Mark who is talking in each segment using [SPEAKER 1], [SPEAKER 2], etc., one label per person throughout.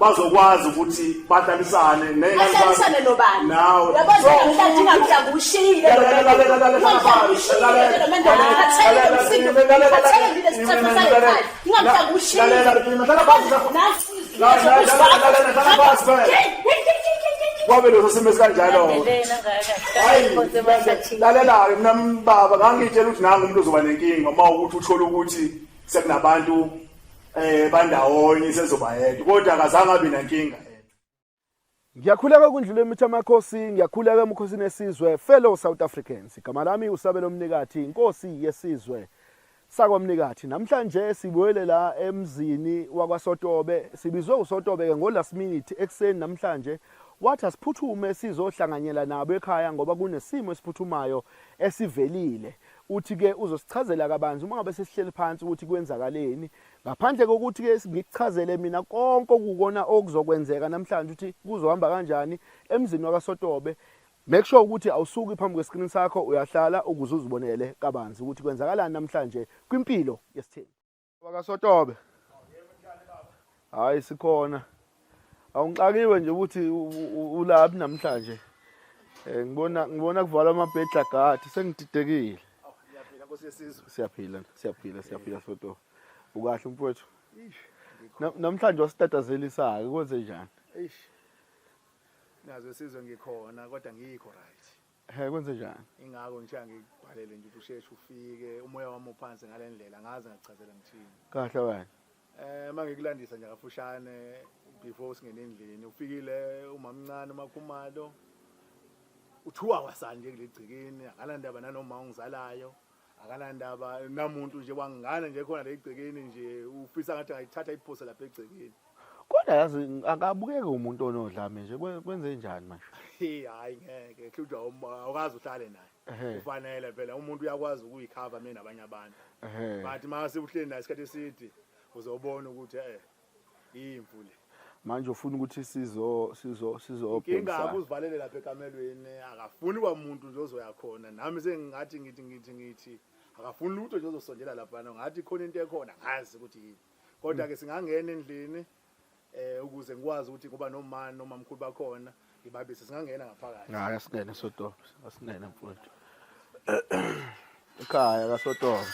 [SPEAKER 1] bazokwazi ukuthi bahlalisane nehlalisane
[SPEAKER 2] nobani nawe yabazo mhlanje ngamhla
[SPEAKER 1] kushiyile kwabe leso simo esikanjalo lalelayo mina mbaba ngangitshela ukuthi nangu umuntu ozoba nenkinga uma ukuthi uthole ukuthi sekunabantu eh bandawonye sezoba yedwa kodwa akazange abe nankinga
[SPEAKER 3] Ngiyakhuleka kundlule emitha amakhosi, ngiyakhuleka emkhosini esizwe, fellow South Africans. Igama lami usabelo mnikathi, inkosi yesizwe sakwamnikathi. Namhlanje sibuyele la emzini wakwaSotobe. Sibizwe uSotobe ke ngo last minute ekseni namhlanje. Wathi asiphuthume sizohlanganyela nabo ekhaya ngoba kunesimo esiphuthumayo esivelile. Uthi ke uzosichazela kabanzi uma ngabe sesihleli phansi ukuthi kwenzakaleni ngaphandle kokuthi ke ngikuchazele mina konke okukona okuzokwenzeka namhlanje ukuthi kuzohamba kanjani emzini wakaSotobe make sure ukuthi awusuki phambi kwescreen sakho uyahlala ukuze uzibonele kabanzi ukuthi kwenzakalani namhlanje kwimpilo yesithembu bakasotobe hayi sikhona awungixakiwe nje ukuthi ulaphi namhlanje eh ngibona ngibona kuvalwa amabhedla gadi sengididekile
[SPEAKER 1] siyaphila siyaphila
[SPEAKER 3] siyaphila soto ukahle mfowethu namhlanje wasitatazelisayo kwenze njani eish
[SPEAKER 1] nazo sizwe ngikhona kodwa ngikho right He kwenze njani?
[SPEAKER 3] Ingako nje
[SPEAKER 1] angikubhalele nje ukuthi usheshe ufike umoya wami uphansi ngalendlela ngaze ngakuchazela ngithini. Kahle wena.
[SPEAKER 3] Eh mangikulandisa
[SPEAKER 1] nje kafushane before singene endlini ufikile umamncane umakhumalo uthiwa wasanje kulegcikini akanandaba nanoma ungizalayo akanandaba namuntu nje wangana nje khona legcekeni nje ufisa ngathi ayithatha iphose lapha egcekeni kodwa yazi
[SPEAKER 3] akabukeke umuntu onodlame nje kwenze njani manje hey hayi ngeke
[SPEAKER 1] hlutshwa awukazi uhlale naye ufanele phela umuntu uyakwazi ukuyikhava mina nabanye abantu but mase uhleli naye isikhathi eside uzobona ukuthi eh Imvu le. Manje
[SPEAKER 3] ufuna ukuthi sizo sizo sizo Inkinga
[SPEAKER 1] akuzivalele lapha ekamelweni akafuni kwamuntu nje ozoya khona nami sengingathi ngithi ngithi ngithi akafuni lutho nje ozosondela lapha ngathi khona into ekhona ngazi ukuthi yini kodwa ke singangena endlini eh ukuze ngikwazi ukuthi ngoba nomama nomamkhulu bakhona ngibabise singangena ngaphakathi hayi asingene
[SPEAKER 3] sotobe asingene mfowethu ekhaya kasotobe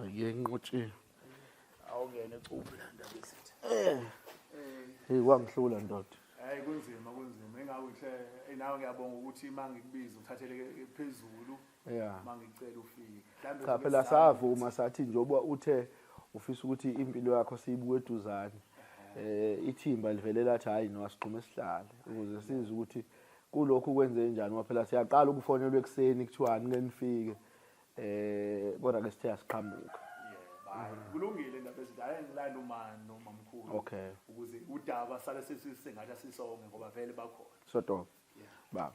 [SPEAKER 3] Ngiyenqotshiwe. Awungene
[SPEAKER 1] cuphi la ndaba esithi. Eh. Hey
[SPEAKER 3] wangihlula ndoda. Hayi kunzima
[SPEAKER 1] kunzima engawe nhle eh, nawe ngiyabonga ukuthi mangikubiza uthatheleke phezulu. Yeah. Mangicela ufike. Mhlambe Cha phela savuma
[SPEAKER 3] sathi njoba uthe ufisa ukuthi impilo yakho siyibuke eduzane. Eh ithimba livele lathi hayi no asigqume sihlale ukuze size ukuthi kulokhu kwenze njani ngoba phela siyaqala ukufonelwa ekuseni kuthiwani ke nifike eh kodwa ke sithe asiqhamuka
[SPEAKER 1] kulungile indaba ezinto aye ngilanda umani nomamkhulu okay ukuze udaba sale sesisengathi asisonge ngoba vele bakhona so dope
[SPEAKER 3] baba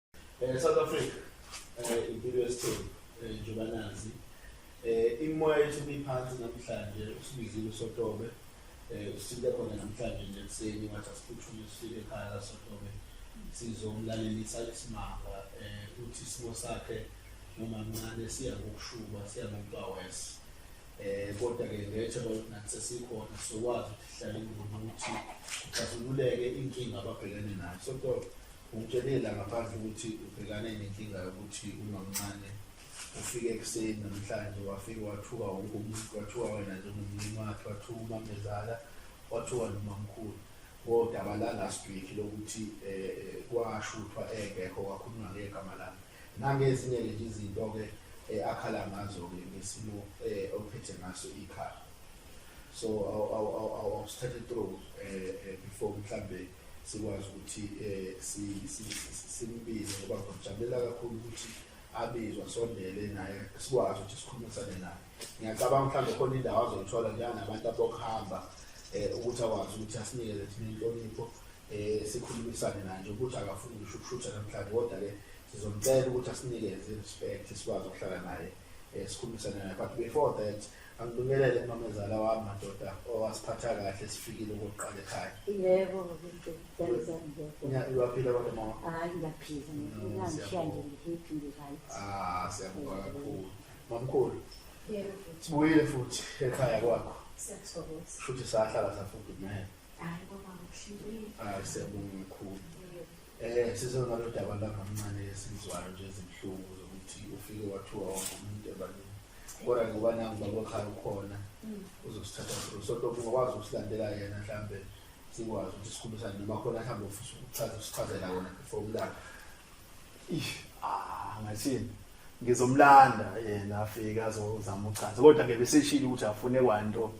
[SPEAKER 4] Eh South Africa eh impilo yesithembu eh, njengoba nazi eh imoya yethu ibiphansi namhlanje usibizile usotobe eh usifike khona namhlanje nje ekuseni wathi asiphuthume sifike ekhaya kasotobe sizomlalelisa isimanga eh uthi isimo sakhe noma mncane siya ngokushuba siya ngokuwawes eh kodwa ke ngethe ukuthi nathi sesikhona sokwazi ukuhlala ingoma ukuthi kuxazululeke inkinga ababhekene nayo sotobe Ungitshele la ngaphandle ukuthi ubhekane nenkinga yokuthi umamncane ufike ekuseni namhlanje wafike wathuka wonke umuntu wathuka wena njengomlimi wakhe wathuka umamezala wathuka nomamkhulu kodaba langasibhikhi lokuthi um kwashuthwa engekho kwakhulunywa ngegama lakhe Nangezinye nje izinto-ke eh, akhala ngazo-ke ngesimo eh, ophethe ngaso ikhaya so awusithathe through um before mhlawumbe sikwazi ukuthi um simbize ngoba ngijabulela kakhulu ukuthi abizwa sondele naye sikwazi ukuthi sikhulumisane naye ngiyacabanga mhlawumbe khona indawo azoyithola njenganabantu abokuhamba um ukuthi akwazi ukuthi asinikele thina inhlonipho eh sikhulumisane naye ukuthi akafuni ngisho ukushutha namhlanje kodwa ke sizomcela ukuthi asinikeze respect sikwazi ukuhlala naye eh sikhulumisane naye but before that angibingelele umamezala wami madoda owasiphatha kahle sifikile ukuqala ekhaya yebo
[SPEAKER 5] uyaphila kodwa mama hayi ngiyaphila
[SPEAKER 4] ngishiya nje ngihappy
[SPEAKER 5] ngi-right ah siyabonga
[SPEAKER 4] kakhulu mamkhulu
[SPEAKER 5] sibuyile futhi
[SPEAKER 4] ekhaya kwakho shuthi
[SPEAKER 5] sahlala
[SPEAKER 4] safudukumele
[SPEAKER 5] Hayi baba akushintshile. Hayi siyabonga mkhulu.
[SPEAKER 4] Eh sizona lo daba la mamncane esizwayo nje izinhlungu zokuthi ufike wathiwa wonke umuntu ebalini. Kodwa ngoba nangu baba khaya ukhona mm. uzosithatha through. So lokho ngokwazi ukusilandela yena mhlambe sikwazi ukuthi sikhulumisane noma khona mhlambe ufisa ukuchaza usichazela wona before ulala. Ish, ah
[SPEAKER 3] ngathini? Ngizomlanda yena afike azozama uchaza. Kodwa ke beseshilo ukuthi afune kwanto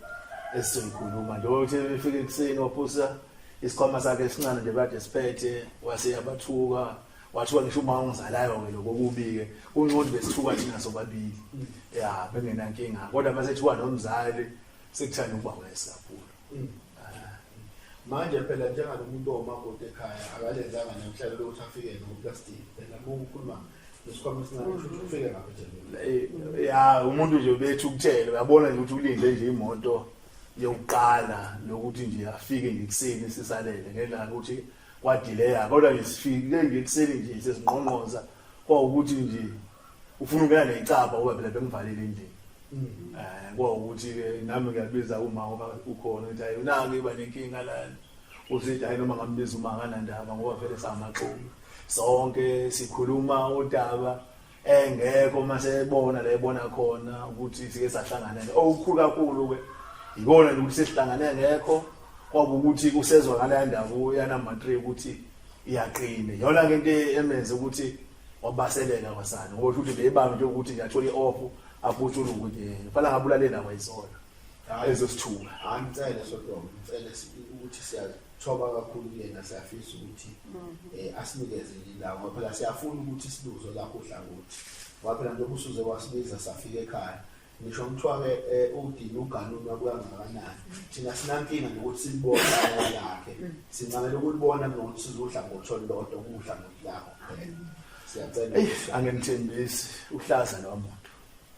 [SPEAKER 3] esizoyikhuluma. Njengoba uthe befike ekuseni waphusa isikhwama sakhe esincane nje kade siphethe wase yabathuka wathiwa ngisho uma ungizalayo ke lokho kubike uncondi besithuka thina sobabili ya bengenankinga kodwa mase thiwa nomzali sekuthanda ukuba wesa kakhulu
[SPEAKER 4] manje phela njengalo muntu omakoti ekhaya akalenzanga namhlanje lokuthi afike noplastic phela uma ukhuluma nesikhwama esincane ukuthi ufike ngapha nje ya umuntu
[SPEAKER 3] nje bethu ukutshela uyabona nje ukuthi ulinde nje imoto yokuqala lokuthi nje afike nje ekuseni sisalele ngenxa yokuthi kwadileya kodwa nje sifike nje ekuseni nje sesingqongqoza kwawukuthi nje ufuna ukela necaba uba phela bengivalile endlini mm. eh kwawukuthi ke nami ngiyabiza uma ngoba ukhona ukuthi hayi unake iba nenkinga lana uzithi hayi noma ngambiza uma kanandaba ngoba vele samaxoki sonke sikhuluma udaba engekho mase ebona la ebona khona ukuthi sike sahlangana okukhulu kakhulu ke yikona nje ukuthi sesihlangane ngekho kwaba ukuthi kusezwakala indaba uyana matric ukuthi iyaqina yona ke into emenze ukuthi wabaselela kwasani ngoba uthi beyibanga nje ukuthi nje athole i-off abutshula ukuthi ngifana eh, ngabulalela kwayizona hayi ezosithuka hayi ngicele
[SPEAKER 4] sodom ngicele ukuthi siyathoba kakhulu kuyena siyafisa ukuthi mhm. eh, asinikeze indawo ngoba phela siyafuna ukuthi sibuzo lakho uhlangothi ngoba phela njengoba usuze wasibiza safika ekhaya ngisho kuthiwa-ke eh, um udini uganunwa kukangakanani thina sinankinga nokuthi silibone aya lakhe mm. sincamela ukulibona kunokuthi sizudla ngotho lodwa ukudla ngothi lakho kuphela siyacela angimthembisi
[SPEAKER 3] uhlaza lowa muntu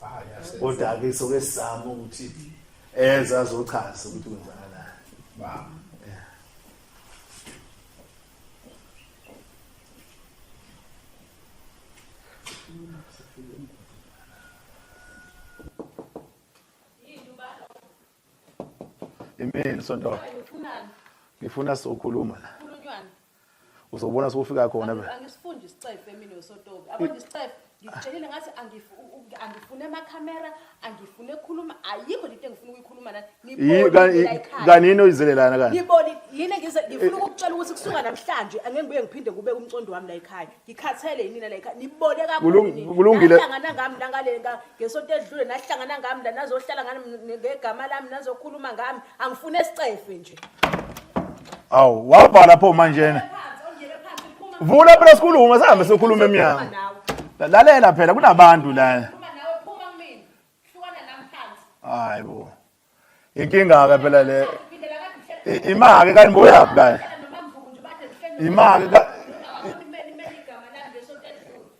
[SPEAKER 3] ah, kodwa-ke soke sizame ukuthi eze azochaza ukuthi kwenzakalani Imini sonto. Ngifuna sokhuluma la. Uzobona sokufika khona be. Angisifundi isicefe
[SPEAKER 2] mina usotobi. Abona isicefe ngikutshelile ngathi angifune ama camera angifune khuluma ayikho lento engifuna ukuyikhuluma nani Yi- nibone ka- nibuyela yi- ekhaya.
[SPEAKER 3] kanini oyizelelana kanti ngiboni yini ngize
[SPEAKER 2] ngifuna ukukutshela ukuthi kusuka namhlanje angeke ngibuye ngiphinde ngibeke umcondo wami la ekhaya ngikhathele yinina la ekhaya nibone Kulung- kakhulu kulungile. nahlangana ngami
[SPEAKER 3] nangale
[SPEAKER 2] nga- ngesonto edlule nahlangana ngami la nazohlala ngami ne- ngegama lami nazokhuluma ngami
[SPEAKER 3] angifune sicefe nje awu wabhala pho manjena vula phela sikhuluma sihambe sokhuluma emnyango lalela phela kunabantu lana hayi bo inkinga ke phela le imake kanibuya phela imake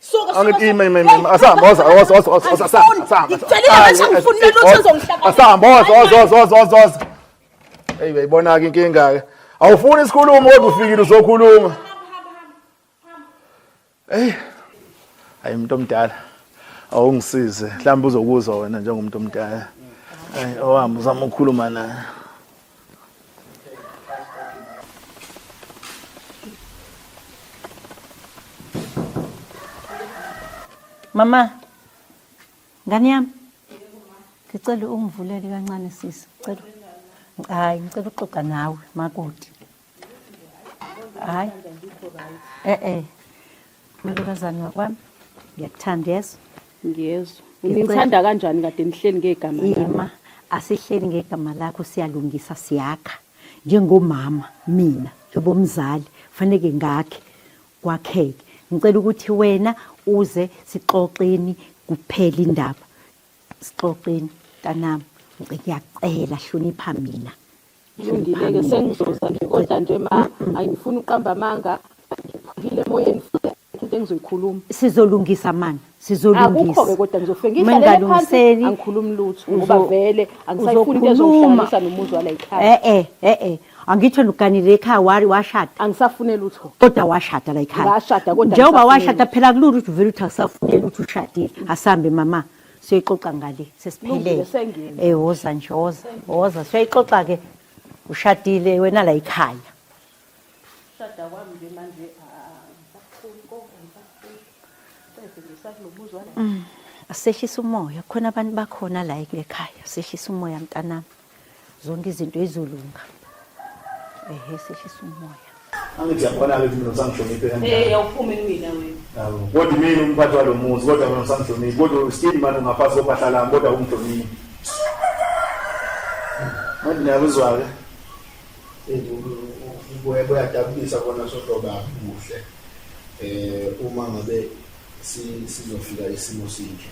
[SPEAKER 2] Suka Angithi ime ime ime asihamba
[SPEAKER 1] oza oza oza oza oza asihamba asihamba.
[SPEAKER 2] Ngikutshelile ngasho ngifuna umuntu othi uzongihlaba. Asihamba oza
[SPEAKER 1] oza oza oza oza oza. Hey uyayibona ke inkinga ke. Awufuni isikhulumo kodwa ufikile uzokhuluma. Hey. Hayi umuntu omdala. Awungisize. Mhlawumbe uzokuzwa wena njengomuntu omdala. Hayi owami uzama ukukhuluma naye.
[SPEAKER 5] Mama, ngane yami ngicela ungivulele kancane sisi, ngicela hayi, ngicela uxoxa nawe makoti. hayi e-e malokazane wakwami ngiyakuthanda yeso ngiyezwa
[SPEAKER 2] nginithanda kanjani kade nihleli ngegama yema asihleli
[SPEAKER 5] ngegama lakho siyalungisa siyakha njengomama mina njengomzali faneke ngakhe kwakheke ngicela ukuthi wena uze sixoxeni kuphela indaba sixoxeni kanami ngicela hlonipha mina Ngilungile-ke
[SPEAKER 2] sengizoza nje kodwa nje ma angifuni uqamba amanga ngiphukile emoyeni futhi into engizoyikhuluma sizolungisa mana
[SPEAKER 5] akukho-ke kodwa ngizofike
[SPEAKER 2] ngihlalele phansi angikhulumi lutho ngoba vele angisayifuni into ezongihlanganisa nomuzi wala yikhaya e-e eh, e-e eh, eh, angitsho
[SPEAKER 5] nuganile ekhaya wari washada angisafune lutho
[SPEAKER 2] kodwa washada la
[SPEAKER 5] yikhaya njengoba
[SPEAKER 2] washada phela
[SPEAKER 5] kulula ukuthi uvele ukuthi akusafuneli ukuthi ushadile asambe mama siyoyixoxa ngale sesiphelele eh woza nje woza woza siyoyixoxa ke ushadile wena la ikhaya
[SPEAKER 2] shada kwami nje manje
[SPEAKER 5] mm, asehlisa umoya khona abantu bakhona la ekhaya sehlisa umoya mntanami zonke izinto izolunga ehe sehlisa umoya angithi yakhona-ke
[SPEAKER 1] ukuthi mina usangihloniphe kanjani
[SPEAKER 2] awuphumi kumina wena kodwa mina
[SPEAKER 1] umphathi walo muzi kodwa mina usangihloniphi kodwa still mani ungaphansi kophahla lami kodwa ungihloniphi manje niyakuzwa-ke kuyadabukisa kona sohloba kuhle um uma ngabe sizofika isimo sinje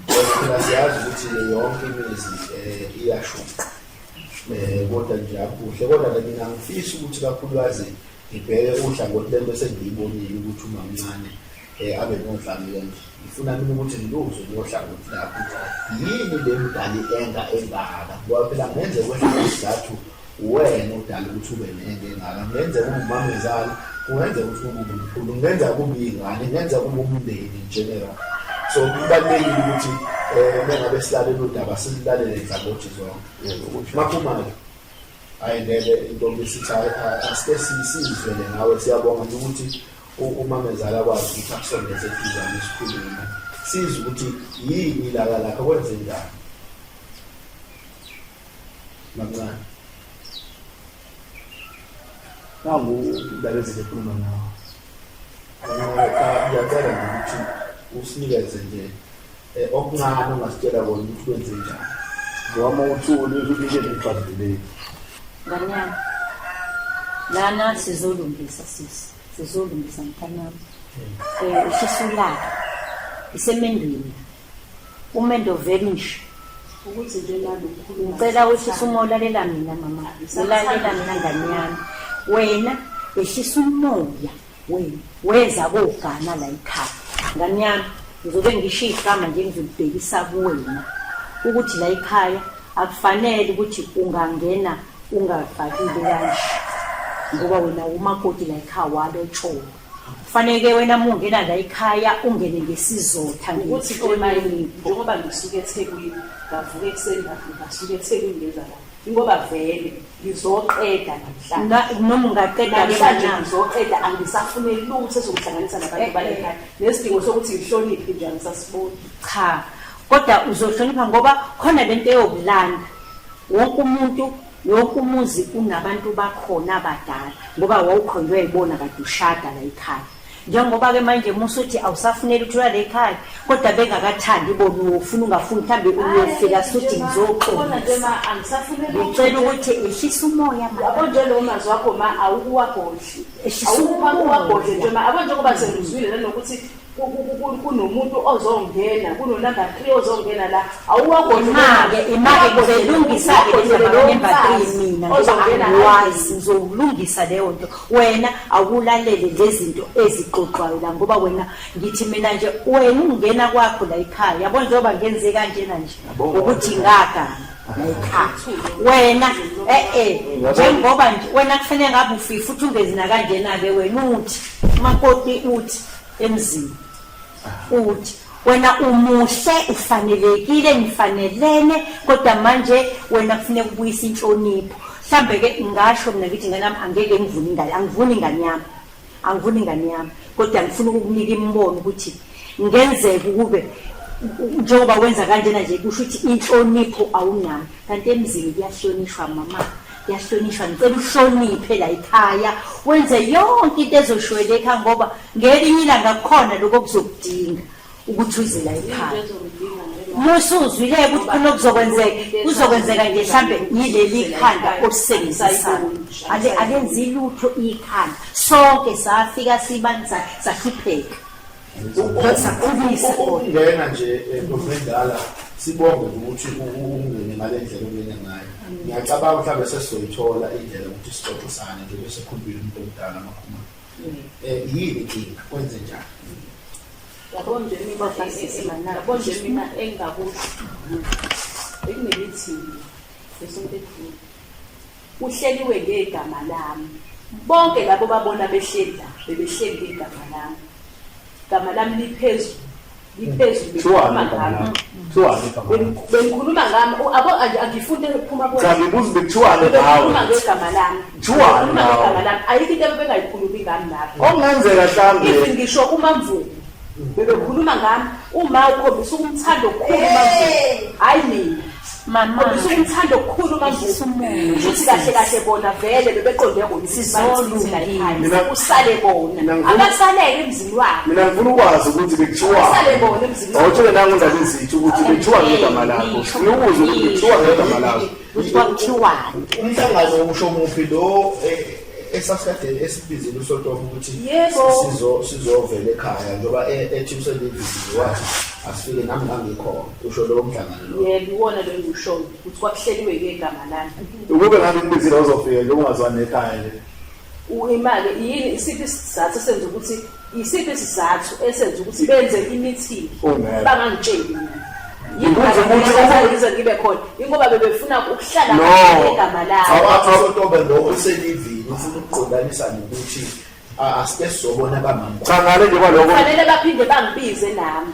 [SPEAKER 1] Thina siyazi ukuthi yonke imizi um iyashuqa um kodwa nje akuhle kodwa ke mina ngifisa ukuthi kakhulukazi ngibheke uhlangothi lento esengiyibonile ukuthi umamncane um abe nodlamile nje ngifuna mina ukuthi ngiluzwe nohlangothi lapho yini le mdali enga engaka ngoba phela ngenzeka kwehla isizathu Uwena odala ukuthi ube nento engaka. Kungenzeka kube umamezala, kungenzeka ukuthi kube umkhulu, kungenzeka kube iy'ngane, kungenzeka kube umndeni in general. So kubalulekile ukuthi um mengabe silalela udaba silulalele nhlabothi zonke. Maphuma-ke hhayi ngeke intombi sithi asike sizizwele ngawe siyabonga nje ukuthi umamezala akwazi ukuthi akusondeze eduzane isikhulume sizwe ukuthi yini ilaka lakho kwenze njani Mancane. Nangu indaba ezile kukhuluma nawo. Ngiyacela nje ukuthi usinikeze nje eh, okuncane ongasitshela kona ukuthi kwenze njani. Ngiyama uthuli ukuthi nje ngibhadileki.
[SPEAKER 5] Nganyama. Lana sizolungisa sisi. Sizolungisa mfana wami. Eh usisulaka. Isemendweni. Umendo veli nje. Ukuthi nje
[SPEAKER 2] nalo ukhuluma. Ngicela ukuthi uma
[SPEAKER 5] ulalela mina mama. Ulalela mina ngane yami. Wena ehlisa umoya wena. Weza kogana la ikhaya. Ngane yami ngizobe ngisho igama nje ngizolibhekisa kuwena ukuthi la ikhaya akufanele ukuthi ungangena ungafakile kanje ngoba wena umakoti la ikhaya walo tsholo Kufanele wena uma ungena la ekhaya ungene ngesizotha Ukuthi ke manje
[SPEAKER 2] ngihloniphe. njengoba ngisuke eThekwini ngavuka ekuseni ngavuka ngasuka eThekwini ngenza la. Ingoba vele ngizoqeda namhlanje. Na- Noma ungaqeda
[SPEAKER 5] Namhlanje kanjani. ngizoqeda
[SPEAKER 2] angisafune lutho ezokuhlanganisa nabantu Eh, eh. balekhaya. Nesidingo sokuthi ngihloniphe nje angisasiboni. cha
[SPEAKER 5] kodwa uzohlonipha ngoba khona lento eyokulanda wonke umuntu Wonke umuzi unabantu bakhona abadala ngoba wawukhonjwa yibona kade ushada la ekhaya. Njengoba ke manje musa uthi awusafuneli ukuthi ulale ekhaya kodwa bengakathandi bona ufuna ungafuni mhlambe uyofika suthi ngizoxolisa.
[SPEAKER 2] Ngicela ukuthi
[SPEAKER 5] ehlisa umoya manje. Yabo nje lo mazi wakho
[SPEAKER 2] ma awukuwagodli. Ehlisa umoya. Awukuwagodli nje ma abo njengoba sengizwile nanokuthi kunomuntu ozongena kunonumber three ozongena la awuwakonake imake
[SPEAKER 5] ngizolungisa-ke lezabanumber three mina ngobawazi ngizowulungisa leyo nto wena awulalele le zinto ezixoxwayo la ngoba wena ngithi mina nje wena ungena kwakho la ekhaya yabo njengoba ngenze kanjena nje ukuthi ngagana wena e-e njengoba nje wena kufanele ngabe ufifi uthi ungezi nakanjena-ke wena uthi umakoti uthi emzini uthi wena umuhle ufanelekile nifanelene kodwa manje wena kufuneka ubuyisa inhlonipho mhlambe ke ngasho mina ngithi ngane yami angeke ngivune ingane angivuni ingane yami angivuni ingane yami kodwa ngifuna ukukunika imibono ukuthi ngenzeka ukube njengoba wenza kanjena nje kusho ukuthi inhlonipho awunayo kanti emzini kuyahlonishwa mama kuyahlonishwa ngicela uhloniphe la ikhaya wenze yonke into ezoshweleka ngoba ngelinye ilanga kukhona lokho kuzokudinga ukuthi uze la ikhaya musuzwile ukuthi khona kuzokwenzeka kuzokwenzeka nje mhlambe yileli khanda olisebenzisana ale alenzi lutho ikhanda sonke safika sibanisa sahlupheka
[SPEAKER 4] ukungena nje ntomendala sibonge ukuthi ungene ngale ndlela ongene ngayo ngiyacabanga mhlawumbe sesizoyithola indlela ukuthi sixoxe sane nje bese khulumile umuntu omdala amakhuma um yini inkinga kwenze njani yabona nje mina basisi mana yabona nje mina
[SPEAKER 2] engakusho bekunemithi besompethini Uhleliwe ngegama lami. Bonke labo babona behleli la bebehleli ngegama lami. Igama lami liphezulu. Liphezulu likhuluma ngami. Bengikhuluma ngami abo angifunde ukuphuma kuwe. Cha ngibuza bekuthiwani ngawe? Bengikhuluma ngegama lami. Kuthiwani ngawe? Ngegama lami. Ayikho into abebengayikhulumi ngami lapho. Okungenzeka mhlambe.
[SPEAKER 4] Ngisho umamvubu.
[SPEAKER 2] Bebekhuluma ngami uma ukhombisa ukumthanda okukhulu manje. Hayi mina. Mama Khombisa
[SPEAKER 5] ukumthanda okukhulu
[SPEAKER 2] manje. Futhi kahle kahle bona vele bebeqonde kona isizolu la ekhaya. Mina- Usale bona. Mina ngifuna- Akasaleke emzini wakhe. Mina ngifuna ukwazi ukuthi
[SPEAKER 4] bekuthiwa. Usale bona emzini wakhe.
[SPEAKER 2] Awuthole nangu ndaba ezithu
[SPEAKER 4] ukuthi bekuthiwa ngegama lakho. Ngifuna ukuzwa ukuthi bekuthiwa ngegama lakho. kwakuthiwani
[SPEAKER 5] umhlangano
[SPEAKER 4] usho muphi lo eh, esasikade esibizile usonto ukuthi sizo sizovela ekhaya njengoba e, ethi uselivisiwe wathi asifike nami ngangikhona usho lowo mhlangano lo yebo iwona lo engiwushoyo
[SPEAKER 2] ukuthi kwakuhleliwe ngegama lami ukube ngabe ngibizile
[SPEAKER 4] uzofika nje ungazwani ekhaya le imali
[SPEAKER 2] yini isiphi isizathu senza ukuthi Yisiphi isizathu esenza ukuthi benze imithingi bangangitsheli
[SPEAKER 4] mina? Yikuze ukuthi ukuze ngibe khona ingoba
[SPEAKER 2] bebefuna ukuhlala ngegama lakho. Awakho lo
[SPEAKER 4] oselivini ufuna ukuqondanisa nokuthi asike sobona bamama. Cha ngale nje kwaloko. Fanele baphinde
[SPEAKER 2] bangibize nami.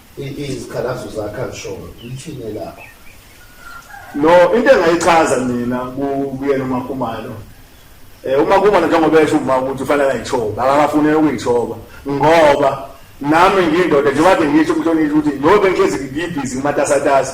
[SPEAKER 4] izikhalazo zakhe azishoyo lithini lakho no into engayichaza mina kuyena umakhumalo eh uma kuba njengoba esho uma ukuthi ufanele ayithoba akafunele ukuyithoba ngoba nami ngindoda njengoba ngisho umhlonishwa ukuthi ngoba ngihlezi ngibhizi ngimatasatasa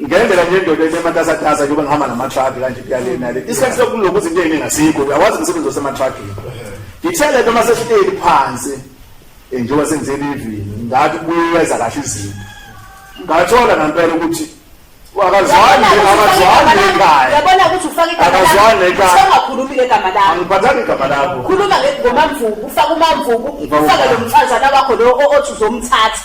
[SPEAKER 4] ngendlela nje indoda enematasatasa njengoba ngihamba namatruck kanje kuyale nale isikhathi sokulokhu izinto eziningi asikho uyawazi umsebenzi osematruckini ngithele ke uma sesihleli phansi eh, njengoba senzeni ivini ngathi kuyeza kahle izinto ngathola ngampela ukuthi akazwani akazwani ekhaya yabona ukuthi ufake
[SPEAKER 2] igama akazwani ekhaya
[SPEAKER 4] usengakhulumi ngegama lakho
[SPEAKER 2] angiphathanga igama lakho
[SPEAKER 4] khuluma ngomamvubu
[SPEAKER 2] ufaka umamvubu ufaka lo mfazana wakho lo othi uzomthatha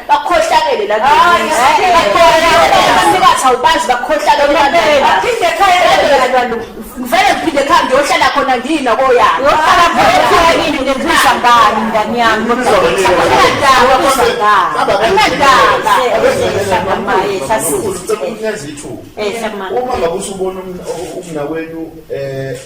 [SPEAKER 2] bakhohlakele la bathikathi awubazi bakhohlakele baphinde ekhaya ngivele ngiphinde ekhaya ngiyohlala khona ngina koyani yohlala khona
[SPEAKER 5] ngibuza ngani ngani yami nginadaba uma ngabe
[SPEAKER 4] usubona umna wenu um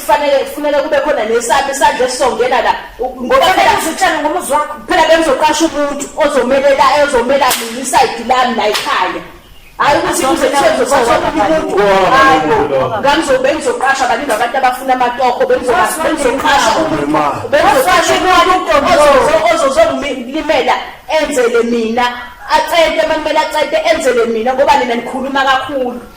[SPEAKER 2] kufanele kufuneka kube khona nesami isandla esizongena la ngoba phela uzitshela ngomuzi wakho phela bengizoqasha umuntu ozomelela ezomela mina isayidi lami la ekhaya hayi ukuthi kuze ngangizobe ngizoqasha baningi abantu abafuna amatoho bengizoqasha bengizoqasha umuntu ozozongilimela enzele mina acente uma kumele acente enzele mina ngoba nina nikhuluma kakhulu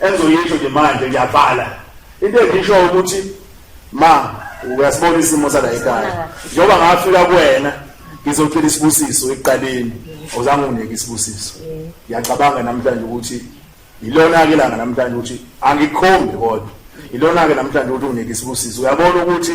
[SPEAKER 4] engizoyisho nje manje ngiyavala into engisho ukuthi ma uyasibona isimo sala ekhaya njengoba ngafika kuwena ngizocela isibusiso ekuqaleni awuzange unginike isibusiso ngiyacabanga namhlanje ukuthi yilona-ke langa namhlanje ukuthi angikhombi kodwa yilona-ke namhlanje ukuthi unginike isibusiso uyabona ukuthi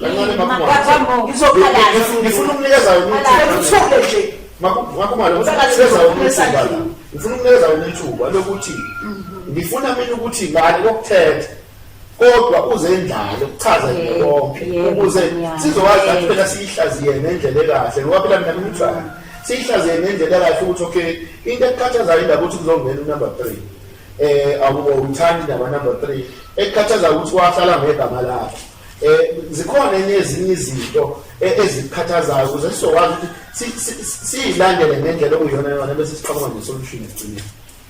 [SPEAKER 4] Kancane
[SPEAKER 2] makhumalo. Ngifuna
[SPEAKER 4] ukunikeza uthule nje. Makhumalo ngifuna ukunikeza uthule. Ngifuna ukunikeza uthule lokuthi ngifuna mina ukuthi ngani kokuthetha kodwa uze indlalo kuchaza nje konke ukuze sizokwazi ukuthi phela siyihlaziye ngendlela ekahle ngoba phela mina ngimthanda siyihlaziye ngendlela ekahle ukuthi okay into ekukhathazayo indaba ukuthi kuzongena unumber three um eh, awuthandi naba number three ekukhathazayo ukuthi wahlala ngegama lakhe Eh zikhona enye ezinye izinto e, ezikhathazayo ukuze sizokwazi ukuthi siyilandele ngendlela okuyona yona bese siqhamuka nesolution egcinile.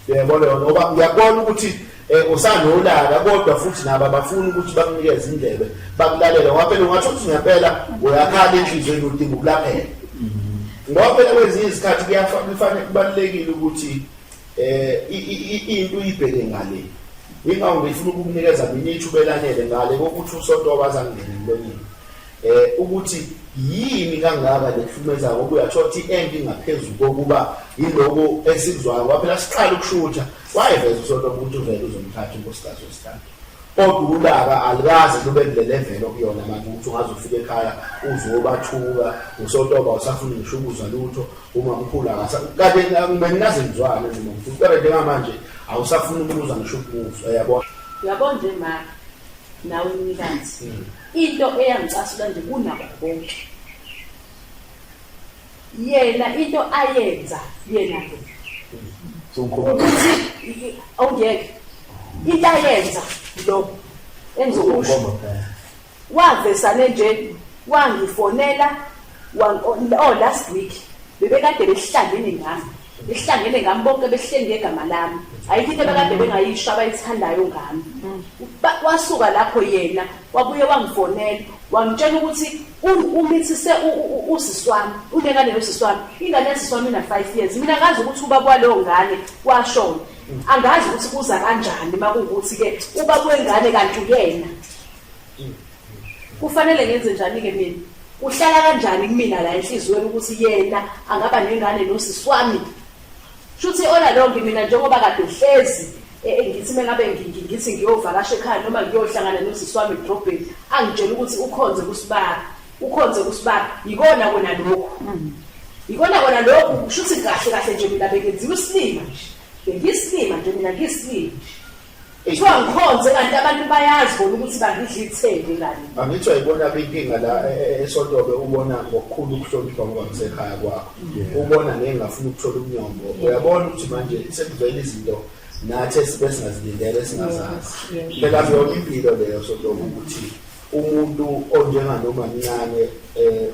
[SPEAKER 4] Uyabona yona ngoba uyabona ukuthi eh usanolaka kodwa futhi nabo abafuni ukuthi bakunikeze indlebe bakulalela ngoba phela ungathi ukuthi ngempela uyakhala enhlizweni udinga ukulaphela. Ngoba phela kwezinye izikhathi kuyafanele kubalekile ukuthi eh into uyibheke ngale ingawu ngifuna ukukunikeza mina ithuba elanele ngale kokuthi usonto wabaza ngene emlonyeni eh ukuthi yini kangaka lekuhlumeza ngoba uyathola ukuthi end ingaphezulu kokuba yiloko esikuzwayo ngoba phela siqala ukushutha wayeveza usonto ukuthi uvele uzomthatha unkosikazi wesithathu kodwa ulaka alikaze lube kule level okuyona manje ukuthi ungazofika ekhaya uzobathuka usontoba usafuna ngisho ukuzwa lutho Umamkhulu akasa kade benginaze ngizwane nomamkhulu kodwa njengamanje awusafuni ukubuza ngisho ukubuza yabo. Yabo nje ma
[SPEAKER 2] nawe umnikazi hmm. into eyangicasula nje kunabo bonke. Yena into ayenza yena lo. Ukuthi awungeke into ayenza lo engizokusho. Wavesane nje wangifonela wan- o- oh, last week bebekade behlangene ngami behlangene ngami bonke behleli ngegama lami ayikho into abekade bengayisho abayithandayo ngami Ba- wasuka lapho yena wabuye wangifonela wangitshela ukuthi u- umithise u- u- u- usisi wami unengane yosisi wami ingane yasisi wami ina-five years mina ngazi ukuthi ubaba waleyo ngane washona angazi ukuthi kuza kanjani uma kuwukuthi-ke ubaba wengane kanti uyena kufanele ngenze njani-ke mina uhlala kanjani kumina la enhliziyweni ukuthi yena angaba nengane nosisi wami shuthi ola lonke mina njengoba kade uhlezi e, e, ngithi mengabe ngithi ngiyovakasha ekhaya noma ngiyohlangana nosisi wami edrobheni angitshela ukuthi ukhonze kusibaba ukhonze kusibaba yikona kona lokhu mm. yikona kona lokhu shuthi kahle kahle nje mina bengenziwa isilima nje bengiyisilima nje mina ngiyisilima nje Ithiwa ngikhonze kanti abantu bayazi bona ukuthi bangidla ithende ngani. Angithi wayibona
[SPEAKER 4] inkinga la e, e, e, eSotobe ubona ngokukhulu ukuhlonipha ngoba ngisekhaya kwakho. Ubona ngeke ngafuna ukuthola umnyombo. Uyabona ukuthi manje sekuvela izinto nathi esibe singazilindele singazazi. Phela kuyona impilo leyo Sotobe ukuthi Umuntu onjenga noma mncane eh,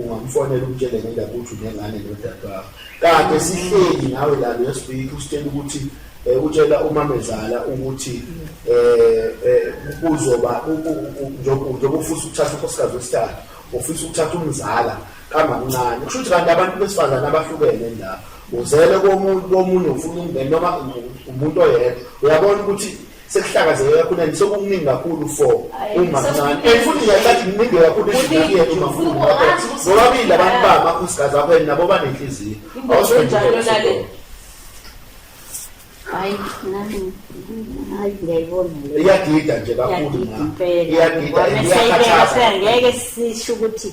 [SPEAKER 4] ungamfonela umtshele ngendaba ukuthi unengane nodadewabo. Kade sihleli nawe la last week usitshela ukuthi eh, utshela umamezala ukuthi eh, eh kuzoba njengoba ufisa ukuthatha unkosikazi wesithathu ufisa ukuthatha umzala kamamncane kusho ukuthi kanti abantu besifazane abahlukene la uzele komuntu komunye ufuna umngene noma umuntu oyedwa uyabona ukuthi sekuhlakazeke kakhulu and sokukuningi kakhulu for umamncane and futhi ngiyacathi kuningi kakhulu izinto yethu mamkhulu nobabili abantu babo akhosikazi akho and nabo banenhliziyo
[SPEAKER 5] iyagida nje
[SPEAKER 4] kakhulu iyagida iyakhathaza ngeke sisho
[SPEAKER 5] ukuthi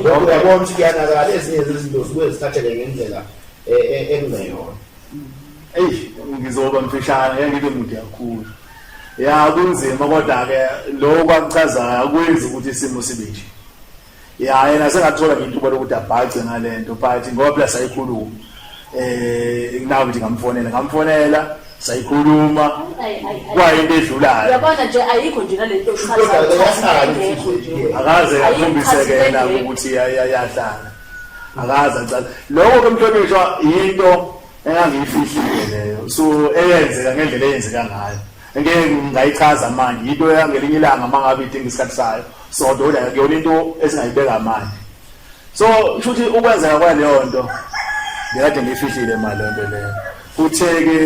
[SPEAKER 4] Ngoba uyabona ukuthi kuyanakala ezinye zezinto zibuye zithatheke ngendlela e- e- ekungeyona. Eish,
[SPEAKER 3] ngizoba mfishane ngeke ngibe mude kakhulu ya kunzima kodwa-ke lokhu akuchazayo akwenzi ukuthi isimo sibe nje ya yena sengathola nje ithuba lokuthi abhace ngale nto but ngoba phela sayikhuluma eh nawe nje ngamfonela ngamfonela sayikhuluma kwayinto edlulayo yabona
[SPEAKER 2] nje ayikho nje nalento
[SPEAKER 3] akaze akhombise kena ukuthi yayahlala akaze acala lokho ke mhlonishwa yinto engangiyifihlile leyo so eyenzeka ngendlela eyenzeka ngayo ngeke ngayichaza manje yinto yangelinye ilanga mangabe idinga isikhathi sayo so ndoda yona into esingayibeka manje so futhi ukwenzeka kwaleyo nto ngikade ngifihlile mali lonto leyo kutheke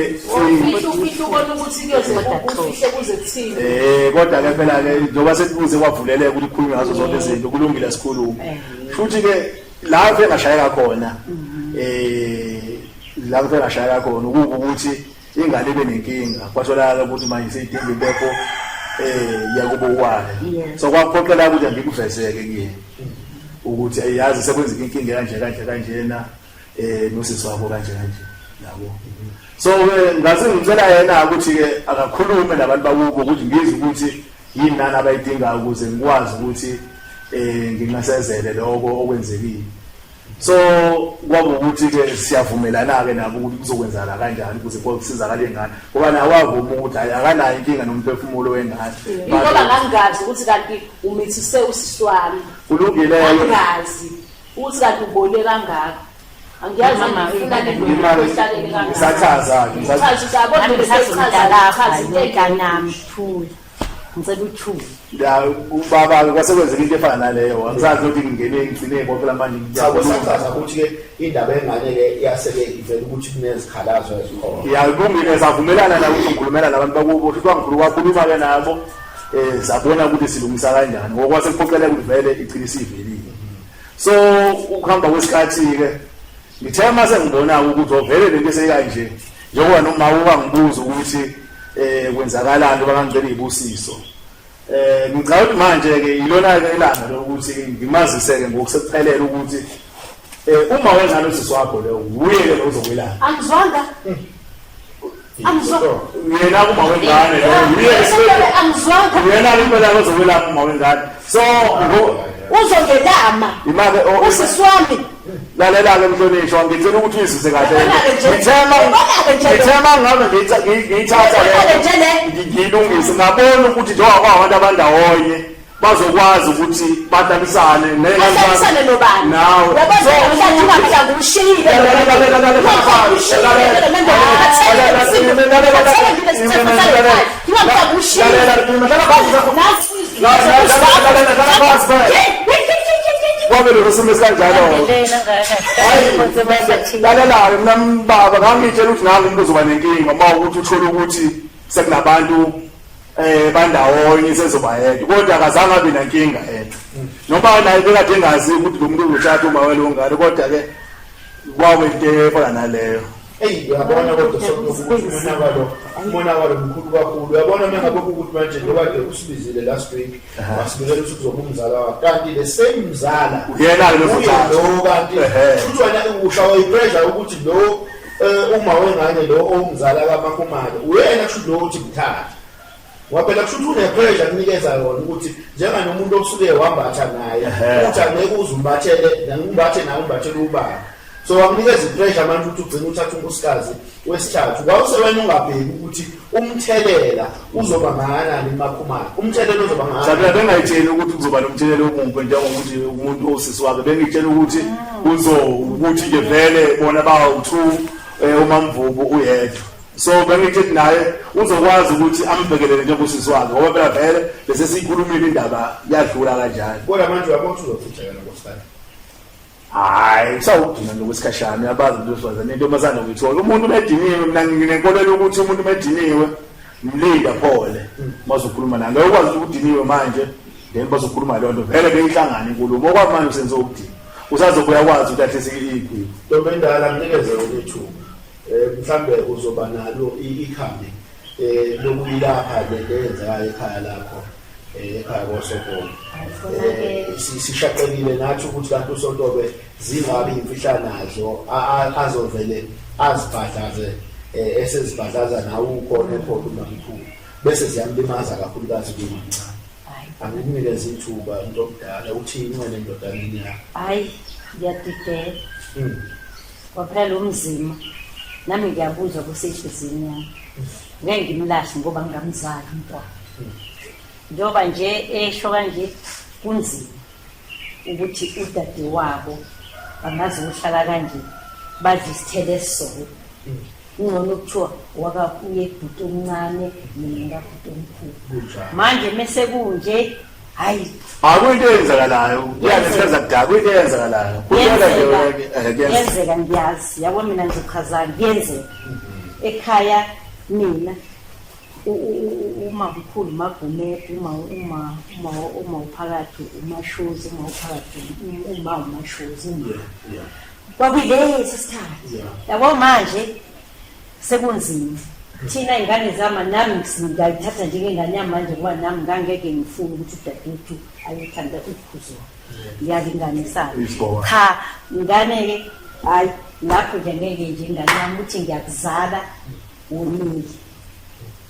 [SPEAKER 2] eh kodwa ke phela
[SPEAKER 3] ke njengoba sekubuze kwavuleleka ukuthi khulume ngazo zonke izinto kulungile sikhulume eh. futhi ke la ke ngashayeka khona mhm. eh
[SPEAKER 4] la ke ngashayeka khona ukuthi ingane ibe nenkinga kwatholakala ukuthi manje seyidinga impepho um yakubo kwayo so kwaphoqela ukuthi angikuvezeke kuyena ukuthi ayazi sekwenzeka inkinga kanje kanje kanjena eh nosisi wabo kanje kanje yabo so ke ngaze ngicela yena ukuthi ke akakhulume nabantu bakubo ukuthi ngizwe ukuthi yini nani abayidingayo ukuze ngikwazi ukuthi eh nginqasezele lokho okwenzekile so kwaba ukuthi-ke siyavumelana-ke nabo ukuthi kuzokwenzakala kanjani ukuze kusizakala ingane ngoba nawo avuma ukuthi hayi akanayo inkinga nomphefumulo wengane ingoba ngangingazi
[SPEAKER 2] ukuthi kanti umithise usisi wami kulungileyo
[SPEAKER 4] angazi
[SPEAKER 2] ukuthi kanti ubone kangaka angiyazi ngifuna nendodasakhe
[SPEAKER 4] ngisathaza-ke
[SPEAKER 2] ngisathaza ukuthi ngisathaza
[SPEAKER 5] nami thula ngicela uthule ya ubaba
[SPEAKER 4] kwase kwenzeka into efana naleyo angisazi ukuthi ngingene ngigcine konke lamanje sabo sachaza ukuthi
[SPEAKER 1] ke indaba engane le iyaseke ivela ukuthi kunezikhalazo ezikhona ya kungike savumelana
[SPEAKER 4] la ukuthi ngikhulumela nabantu bakubo futhi kwangikulu kwakhuluma ke nabo eh sabona ukuthi silungisa kanjani ngokwase kuphoqele ukuthi vele iqinisa ivelile so ukuhamba kwesikhathi ke ngithe mase ngibona ukuthi ovele lento eseyikanje Njengoba noma ukangibuza ukuthi eh kwenzakalani ngoba ngangicela izibusiso. Eh ngicela ukuthi manje ke ilona ke ilanga lokuthi ngimazise ke ngokusephelele ukuthi eh uma wenza lo sisi wakho leyo uye ke uzokwelana.
[SPEAKER 2] Angizwanga.
[SPEAKER 4] Angizwanga. Yena uma
[SPEAKER 2] wengane leyo uye ke angizwanga. Yena
[SPEAKER 4] impela uzokwelana uma wengane. So uzongelama.
[SPEAKER 2] Imake oh, usisi wami. lalela-ke
[SPEAKER 4] mhlonishwa ngicela ukuthi uyizise kahle ngithema ngabe ngiyithatha ngiyilungise ngabona ukuthi njengoba kwabantu abandawonye bazokwazi ukuthi bahlalisane nehlalisane nobani
[SPEAKER 2] nawe yabazo
[SPEAKER 4] mhlawumbe ungahlanga umshiyile lalela lalela kwamele ngisime kanjalo lalelayo mina mbaba ngangitshela ukuthi nami umuntu uzoba nenkinga uma ukuthi uthole ukuthi sekunabantu eh bandawonye sezoba yedwa kodwa akazange abe nankinga yedwa noma naye bekade engazi ukuthi lo muntu uzothatha uma welo ngalo kodwa ke kwabe into efana naleyo eyi uyabona
[SPEAKER 1] kodwa sokuthi umonakalo umonakalo mkhulu kakhulu uyabona uma ngabe ukuthi manje lokade usibizile last week wasibizela ukuthi kuzoba umzala wakhe kanti le same mzala uyena lo
[SPEAKER 4] kanti futhi
[SPEAKER 1] wena usha wayipressure ukuthi lo eh, uma wengane lo owumzala kamakhumalo uyena kusho ukuthi ngithathe Waphela kusho ukuthi unepressure akunikeza yona ukuthi njenga nomuntu osuke wambatha naye ukuthi angeke uze umbathele ngimbathe naye umbathele ubaba so wakunikeza ipressure manje ukuthi ugcine uthatha unkosikazi wesithathu wawusewena ungabheki ukuthi umthelela uzoba ngakanani emakhumana umthelela uzoba ngakanani bengayitsheli ukuthi
[SPEAKER 4] kuzoba nomthelela omumbi njengokuthi umuntu osisi wakhe bengitshela ukuthi uzo ukuthi ke vele bona bawu-two um eh, umamvubu uyedwa so bengithi naye uzokwazi ukuthi ambhekelele njengosisi wakhe ngoba phela vele bese siyikhulumile indaba yadlula kanjani kodwa manje uyabona
[SPEAKER 1] uzothutsheka nokosifana
[SPEAKER 4] hayi kusawugcina nokwesikhashana uyabazi into wesifazane into masana ngithola umuntu umediniwe mina nginenkolelo ukuthi umuntu umediniwe mlinda phole mazokhuluma naye ngeke ukwazi ukuthi udiniwe manje then bazokhuluma leyo nto vele beyihlangane inkulumo okwamanje usenze ukudina usazobuya kwazi ukuthi ahlise iyigwini ntombi endala mnikeze
[SPEAKER 1] ulethuba mhlambe uzoba nalo ikhambi lokuyilapha le nto eyenzekayo ekhaya lakho ekhaya kosontolo sishaqekile nathi ukuthi kanti usontolo zingabi imfihla nazo azovele azibhadlaze esezibhadlaza nawe ukhona ekhona umamkhulu bese ziyamlimaza kakhulukazi kumamncane angikunikeza ithuba into omdala uthini wena endodana yakho hayi
[SPEAKER 5] ngiyadidela Kwaphela umzima nami ngiyakuzwa kusehlizini yami ngeke ngimlahle ngoba ngingamzali umntwana njengoba nje esho kanje kunzima ukuthi udade wabo bangazi ukuhlala kanje badla isithelo esisoko kungcono kuthiwa wakakuye bhuti omncane mina ngabhuti omkhulu manje mese kunje hayi akuyinto
[SPEAKER 4] eyenzakalayo kuyanesenza kudala kuyinto eyenzakalayo
[SPEAKER 5] kuyenzeka eh, ngiyazi yabo mina ngizochazani kuyenzeka ekhaya mina uma mkhulu magumede uma uma uma uma uphakathi umashozi uma uphakathi uma umashozi uma kwakuyilesi sikhathi yabo manje sekunzima thina ingane zama nami ngayithatha njengengane yamanje ngoba nami ngangeke ngifune ukuthi udadewethu ayethanda ukuzwa ngiyalinganisana cha ngane-ke hhayi lapho nje ngeke nje ingane yami ukuthi ngiyakuzala wonile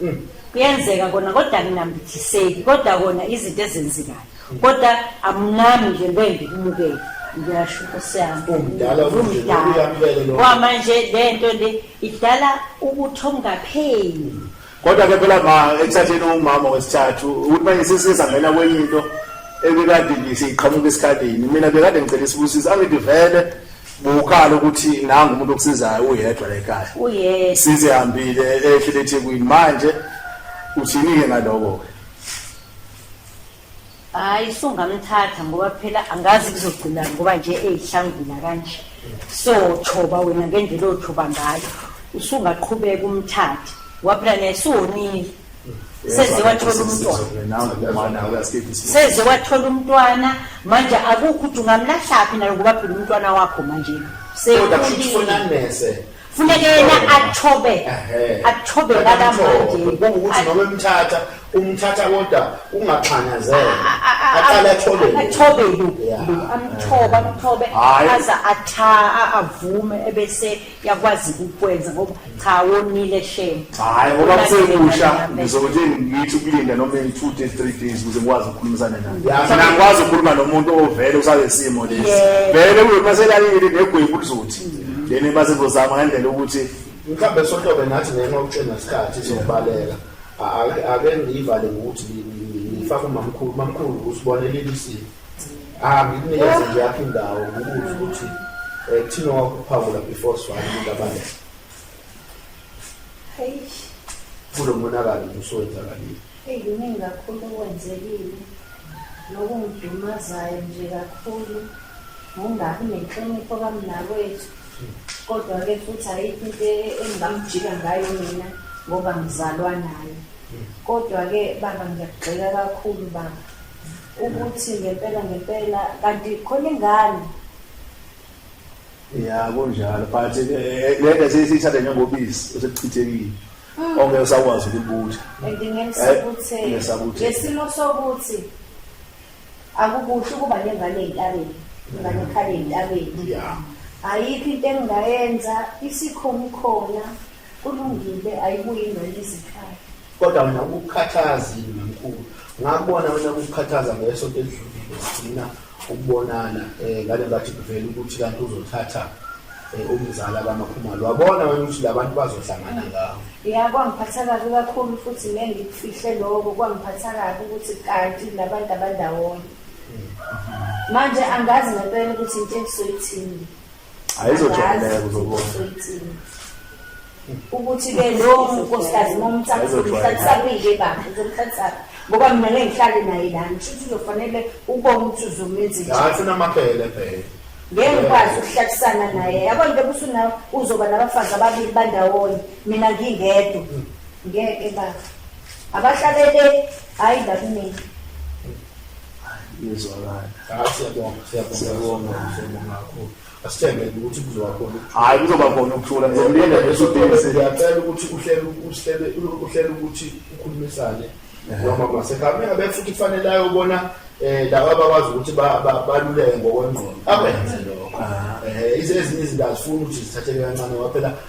[SPEAKER 5] Mm. kuyenzeka kona kodwa nginambithiseki kodwa kona izinto ezenzekayo mm. kodwa amnami nje ngeke ngikumukele ngiyasho inkosi yami
[SPEAKER 4] umdala kwamanje le nto
[SPEAKER 5] le idala ukuthi ongapheli kodwa ke phela
[SPEAKER 1] ma ekuthatheni umama wesithathu ukuthi manje sesizangena kwenye into ebekade ngiseyiqhamuka esikhaleni mina bekade ngicela isibusisi angithi vele bukala ukuthi nangu umuntu okusizayo uyedwa la ekhaya uyedwa since ehambile ehlele eThekwini manje uthini-ke ngaloko-ke
[SPEAKER 5] hayi sungamthatha ngoba phela angazi kuzogcina ngoba nje eyihlangula kanje so thoba wena ngendlela othoba ngayo usungaqhubeka umthathe ngoba phela naye siwonile seze wathola umntwana seze wathola umntwana manje akukho ukuthi ungamlahlaphi nayo ngoba phela umntwana wakho manje sefunanese funeke yena athobe athobe lakamandebongukuthi noma
[SPEAKER 4] emthatha umthatha kodwa ungaxanyazelwa aqale athobe athobe lu
[SPEAKER 5] amthobe amthobe aza atha avume ebese yakwazi ukukwenza ngoba cha wonile shem hayi ngoba
[SPEAKER 1] kusekusha ngizothi ngithi ukulinda noma in 2 days 3 days ukuze ngikwazi ukukhulumisana naye mina ngikwazi ukukhuluma nomuntu ovele usale simo lesi vele uyopasela yini negwebu lizothi mm. lena base ngozama ngendlela ukuthi mhlawumbe sohlobe
[SPEAKER 4] nathi ngenxa ukutshena isikhathi sokubaleka ake ngiyivale ngokuthi ngifake umamkhulu mamkhulu usibonelelisiwe Ah, ngikunikeze nje yakho indawo ngikubuze ukuthi eh kuthina wakuphawula before swali ngabane. Hey. Kulo monakalo usuwenzakalile. Hey, kuningi
[SPEAKER 6] kakhulu okwenzekile. Nokungidumazayo nje kakhulu. Ngongabi nenhlonipho kamnakwethu. Hmm. Kodwa-ke futhi ayikho into engingamjika ngayo mina ngoba ngizalwa naye. Hmm. Kodwa-ke baba ngiyakugxeka kakhulu baba. ukuthi ngempela ngempela kanti khona ingane
[SPEAKER 1] ya kunjalo but eh, eh, le nto seyisithatha njengobisi osekuchithekile mm. ongeke usakwazi ukubutha and ngesakuthi
[SPEAKER 6] lesimo sokuthi akukuhle ukuba nengane entabeni ingane ekhale entabeni ayikho into engingayenza isikhona khona Kulungile ayibuye ingane izikhaya. Kodwa mina
[SPEAKER 4] ukukhathaza yini mkhulu. Ngakubona wena ukukhathaza ngesonto elidlulile sigcina ukubonana eh ngale ngathi kuvela ukuthi kanti uzothatha eh, umzala kamakhumalo. Wabona wena ukuthi labantu bazohlangana ngawo. Ya kwangiphatha kabi
[SPEAKER 6] kakhulu futhi le ngikufihle lokho kwangiphatha kabi ukuthi kanti labantu abandawonye. Manje angazi ngempela ukuthi into engisoyithini. ayizojwayeleka
[SPEAKER 1] uzobona
[SPEAKER 6] ukuthi ke lowo nkosikazi momthathsakuyike baba uzomthathsaphi ngoba mina ngeke ngihlale naye lani shuthi uzofanele ubone ukuthi uzomenza njani sinamabhele bhele
[SPEAKER 4] ngeke ngikwazi
[SPEAKER 6] ukuhlatisana naye yabo nje busuna uzoba nabafazi ababili bandawonye mina ngingedwa mm. ngeke baba abahlalele hayi la kumina
[SPEAKER 4] hayi kuzoba khona
[SPEAKER 1] ukuthula ngizomlinda ngesudisiyacela ukuthi
[SPEAKER 4] uhlele uhlele uhlele ukuthi ukhulumisane noma masekhaya abe futhi kufanele ayobona eh laba bakwazi ukuthi baluleke ngokwengqondo akwenze lokho eh izezinye izinto azifuni ukuthi zithatheke kancane waphela